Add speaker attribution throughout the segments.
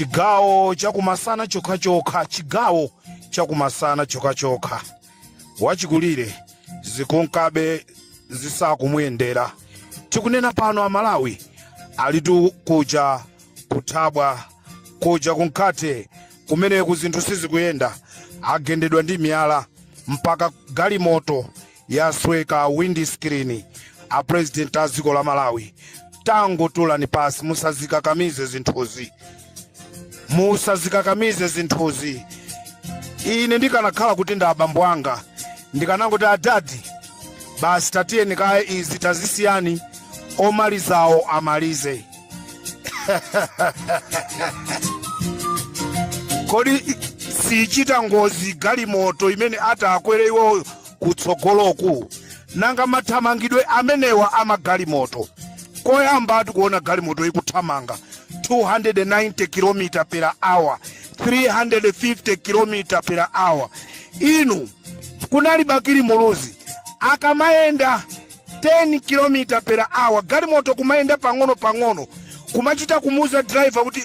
Speaker 1: chigawo chakumasana chokhachokha chigawo chakumasana chokhachokha wachikulire zikunkabe zisakumuyendera tikunena pano amalawi alitu kuja kuthabwa kuja kunkate kumeneku zinthu sizikuyenda agendedwa ndi miyala mpaka galimoto yasweka windi screen a president a dziko la malawi tangotulani pansi musazikakamize zinthuzi musazikakamize zinthuzi ine ndikanakhala kuti ndi abambo anga ndikanangoti adadi basi tatiyeni kaye izi tazisiyani omalizawo amalize kodi siichita ngozi galimoto imene atakwere iwoyo kutsogoloku nanga mathamangidwe amenewa amagalimoto koyambatu kuona galimoto ikuthamanga 290 km per hour 350 km per hour inu kunali bakili muluzi akamayenda 10 km per hour galimoto kumayenda pang'ono pang'ono kumachita kumuuza driver kuti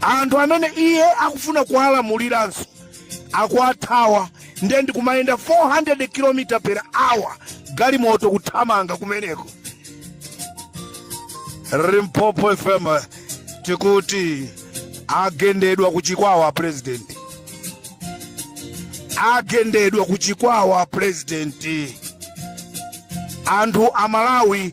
Speaker 1: anthu amene iye akufuna kuwalamuliranso akuwathawa ndiye ndikumayenda 400 km per hour galimoto kuthamanga kumeneko limpopo fm tikuti agendedwa kuchikwawa president agendedwa kuchikwawa president anthu amalawi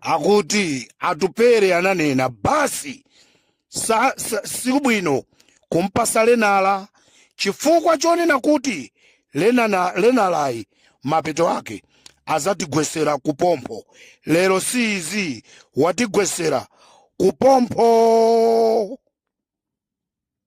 Speaker 1: akuti atupere ananena basi sa, sa, sibwino kumpasa learner chifukwa chonena kuti lenana, learner-yi mapeto ake azatigwesera kupompho lero si izi watigwesera kupompho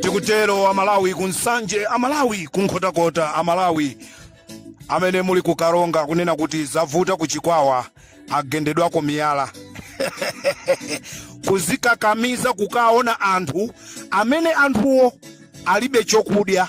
Speaker 1: tikutero amalawi ku nsanje amalawi ku nkhotakota amalawi amene muli ku karonga kunena kuti zavuta ku chikwawa agendedwako miyala kuzikakamiza kukaona anthu amene anthuwo alibe chokudya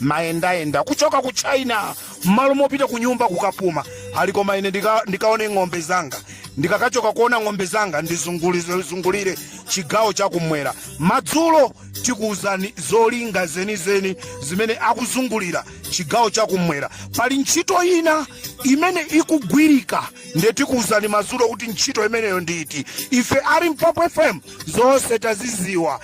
Speaker 1: mayendayenda kuchoka ku china mmalo mopita ku nyumba kukapuma ali koma ine ndika- ndikaone ng'ombe zanga ndikakachoka kuona ng'ombe zanga ndizungulire chigawo chakumwera madzulo tikuwuzani zolinga zenizeni zimene akuzungulira chigawo chakumwera pali ntchito ina imene ikugwirika ndiye tikuwuzani madzulo kuti ntchito imeneyo ndi iti ife a limpopo fm zonse taziziwa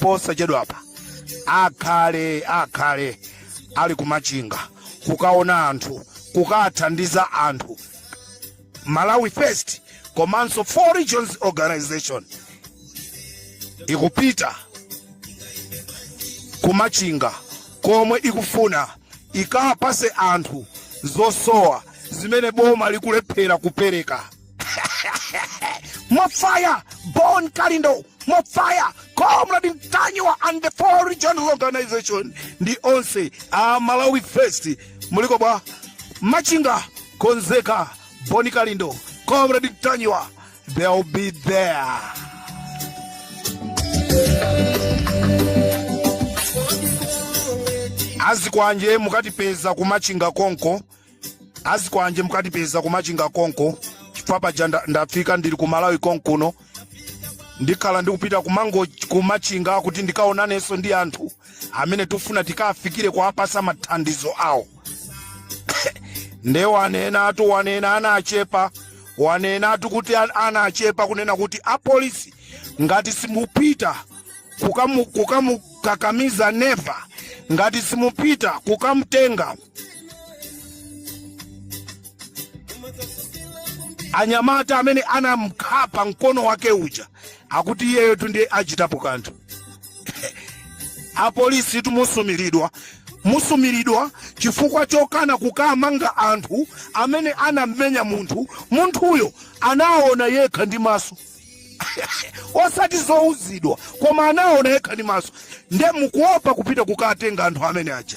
Speaker 1: posachedwapa akhale akhale ali kumachinga kukaona anthu kukathandiza anthu malawi first komanso Four Regions Organization ikupita kumachinga komwe ikufuna ikawapase anthu zosowa zimene boma likulephera kupereka More fire, Bon Kalindo, more fire, Comrade Ntanyiwa and the four regional organization ndi onse a Malawi First muliko bwa? Machinga, Konzeka, Bon Kalindo, Comrade Ntanyiwa, they'll be there. azikwanje mukatipeza kumachinga konko azikwanje mukatipeza kumachinga konko chifukwa paja nda- ndafika ndili ku malawi konkuno ndikhala ndikupita kumango kumachinga kuti ndikaonanenso ndi anthu amene tifuna tikafikire kuwapasa mathandizo awo nde wanenatu wanena anachepa wanenatu kuti an- anachepa kunena kuti apolisi ngati simupita kukamu- kukamukakamiza neva ngati simupita kukamtenga anyamata amene anamkhapa mkono wake uja akuti iyeyotu ndiye achitapo kanthu apolisitu musumilidwa musumilidwa chifukwa chokana kukamanga anthu amene anammenya munthu munthuyo anaona yekha ndi maso osati zouzidwa koma anaona yekha ndi maso nde mukuopa kupita kukawatenga anthu amene aja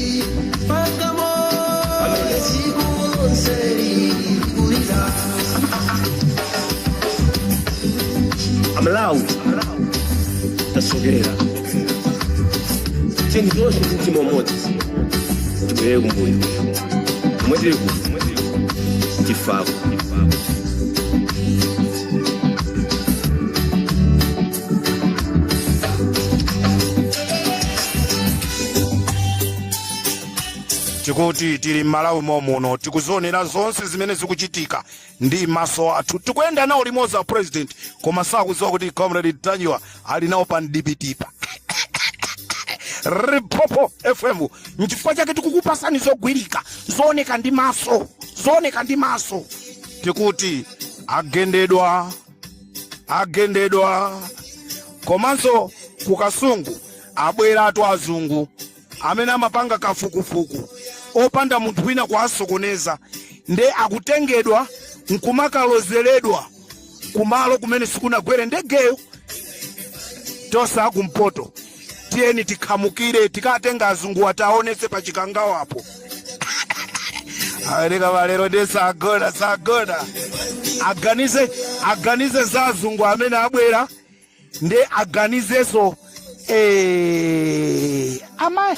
Speaker 2: amlawi tasogera chinthu chonse ndi mtima umodzi tibwerere kumbuyo mwetiri ku tifako
Speaker 1: tikuti tili m'malawi momuno tikuzionera zonse zimene zikuchitika ndi maso athu tikuyenda nawo limodzi a president koma sakudziwa kuti Comrade Ntanyiwa ali nawo pa mdipitipa Limpopo FM nchifukwa chake tikukupasani zogwirika zooneka ndi maso zooneka ndi maso tikuti agendedwa agendedwa komanso ku kasungu abweratu azungu amene amapanga kafukufuku opanda munthu wina kuwasokoneza nde akutengedwa nkumakalozeredwa kumalo kumene sikunagwere ndegeyo tosaakumpoto tiyeni tikhamukire tikatenga azunguwa tiwaonetse pa chikangawapo awoneka malero ndiye sagona sagona aganize aganize za azungu amene abwera ndi aganizeso eh, amayi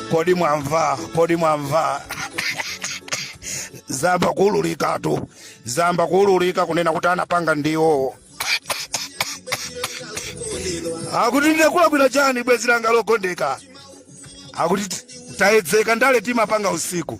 Speaker 1: kodi mwamva kodi mwamva zayamba kuululikatu zayamba kuululika kunena kuti anapanga ndi iwowo akuti ndinakulakwira chani bwezi langa lokondeka akuti tayedzeka ndale timapanga usiku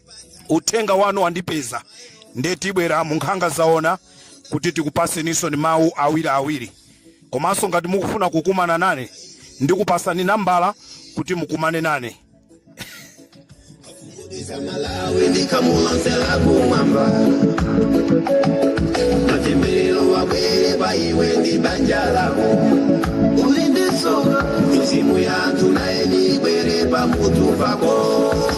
Speaker 1: uthenga wanu wandipeza nde tibwera mu nkhanga zaona kuti tikupaseninso ni mawu awiri awiri komanso ngati mukufuna kukumana nane ndikupasani nambala kuti mukumane nane
Speaker 2: Malawi ndi khamu lonse la kumwamba matemberero wabwere pa iwe ndi banja lako uli ndi soka mizimu ya anthu nayeni ibwere pa mutu pako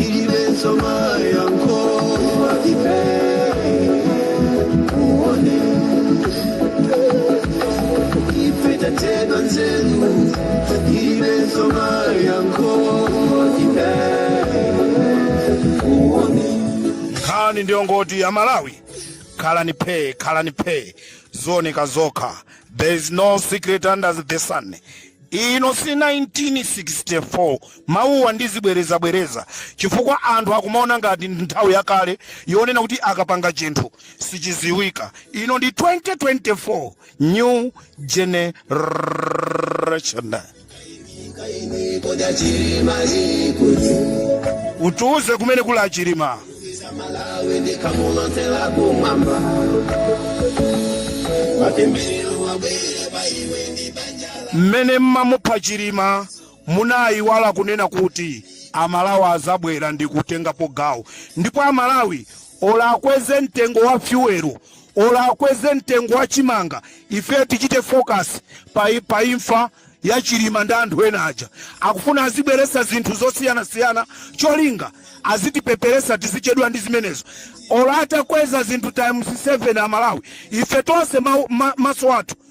Speaker 2: ilibenso mayankho ife uone ife tathedwa nzeru ilibenso mayankho
Speaker 1: ife uone nkhani ndi yongoti amalawi khalani phee khalani phee ziwoneka zokha there is no secret under the sun ino si 1964 Mawuwa ndizibwerezabwereza chifukwa anthu akumaona ngati ndi nthawi yakale yonena kuti akapanga chinthu sichidziwika. Ino ndi 2024 New Generation. Utiuze kumene kuli a Chilima. Mmene mumamupha Chilima Munaiwala kunena kuti amalawi azabwera ndikutengapo gawo ndipo amalawi or akweze mtengo wa fuel or akweze mtengo wa chimanga ife tichite focus pa, pa imfa ya chilima ndi anthu ena aja akufuna azibweresa zinthu zosiyanasiyana cholinga azitipeperesa tizichedwa ndi zimenezo or atakweza zinthu times 7 amalawi ife tonse ma, ma, maso athu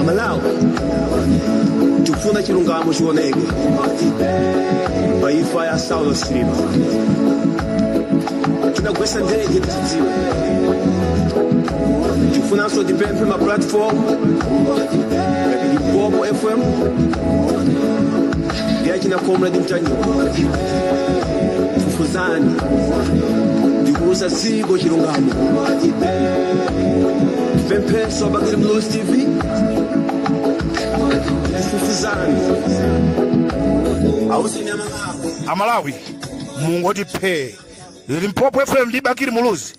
Speaker 2: amalawi tikufuna chilungamo chioneke pa imfa ya saulos chilima adagwetsa ndege tidziwe tikufunanso tipemphe ma platform ngati limpopo fm ndi achina comrade ntanyiwa fufuzani ndikuuza dziko chilungamo tipemphenso abakili muluzi tv fufuzani
Speaker 1: uzani amalawi mungoti phee limpopo fm ndi bakili muluzi